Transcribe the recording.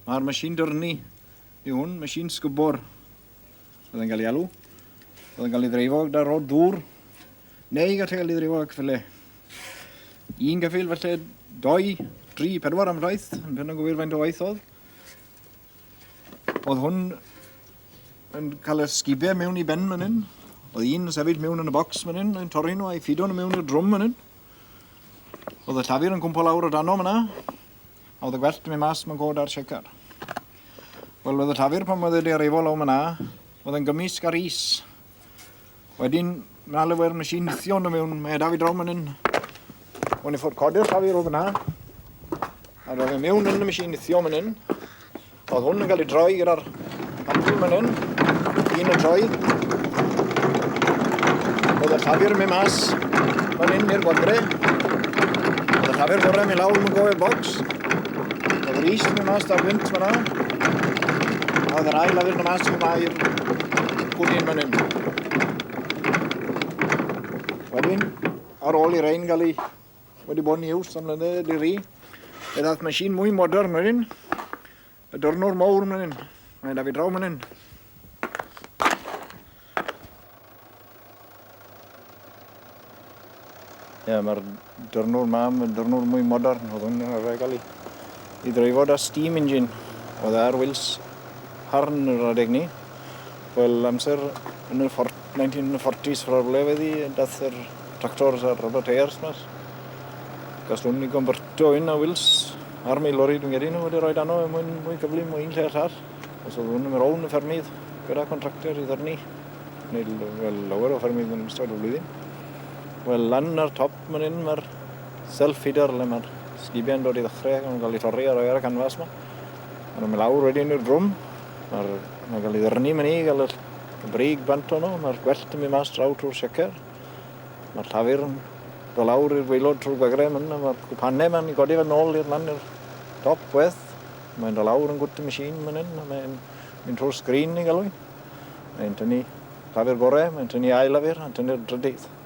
Mae'r machine dyrnu i hwn, machine sgybor, oedd yn cael ei alw. Oedd yn cael ei ddreifo gyda rod dŵr, neu gallu cael ei ddreifo ac fyle. Un gyffil felly, doi, tri, pedwar am rhaith, yn pen o'n gywir faint o waith oedd. Oedd hwn yn cael y sgibau mewn i ben fan hyn. Oedd un yn sefyll mewn yn y bocs fan hyn, yn torri nhw a'i ffido nhw mewn i'r drwm fan hyn. Oedd y llafur yn cwmpo lawr o dano fyna. A oedd y gwellt yn mynd mas mewn god ar Shaker? Wel, oedd y llafur pan oedd wedi arifo law myna, oedd yn gymysg ar is. Wedyn, mae yna lewer nes i nithio nhw mewn medaf i draw man hyn. O'n i ffwrdd codi'r llafur oedd yna. A roedd e mewn yn y machine nithio man hyn. Oedd hwn yn cael ei droi gyda'r amrwyn fan hyn. Un yn troi. Oedd y llafur yn mynd mas fan hyn i'r gwadre. Oedd y llafur gorau yn mynd lawr yn gofio'r bocs. Oedd yr east yn mynd mas da'r wynt fanna. A oedd yr ail lafur yn mynd mas yn mynd i'r gwdyn fan hyn. Wedyn, ar ôl i rein gael ei Wedi bod yn iws am mlynedd ydy ri. Fe ddath machine mwy modern wedyn. Y dornwr mowr mlaen. Mae da fi draw mlaen. Ie, mae'r dornwr mam, y dornwr mwy modern, oedd hwn yn arfer gael ei i dreifo da steam engine oedd ar wils harn yr adeg ni. Wel, amser yn y 1940s rhywle wedi dath yr tractors a'r rubber tyres mas. Gallwn ni gymbertio un a wils harm ei lori dwi'n gedi nhw wedi rhoi dano er mwyn mwy cyflym o un lle allar. Os oedd hwn yn mynd rown y ffermydd gyda contractor i ddyrnu neu wel, lawer o ffermydd yn ystod y flwyddyn. Wel, lan ar top Fan hyn mae'r self-feeder le mae'r sgibiau yn dod i ddechrau ac yn cael ei torri a rhoi ar y canfas yma. Mae'n mynd lawr wedyn i'r drwm. Mae'r mae'n cael ei ddyrnu mynd i gael y brig bant ono. Mae'r gwellt yn mynd mas draw trwy'r secer. Mae'r llafur yn dod lawr i'r gweilod trwy'r gwegrau mynd a mae'r gwpanau mae'n i godi fe nôl i'r man i'r top weth. Mae'n dod lawr yn gwt y machine mynd hyn a mae'n mynd trwy'r sgrin i galw i. Mae'n tynnu llafur gorau, mae'n tynnu ail lafur, mae'n tynnu'r drydydd.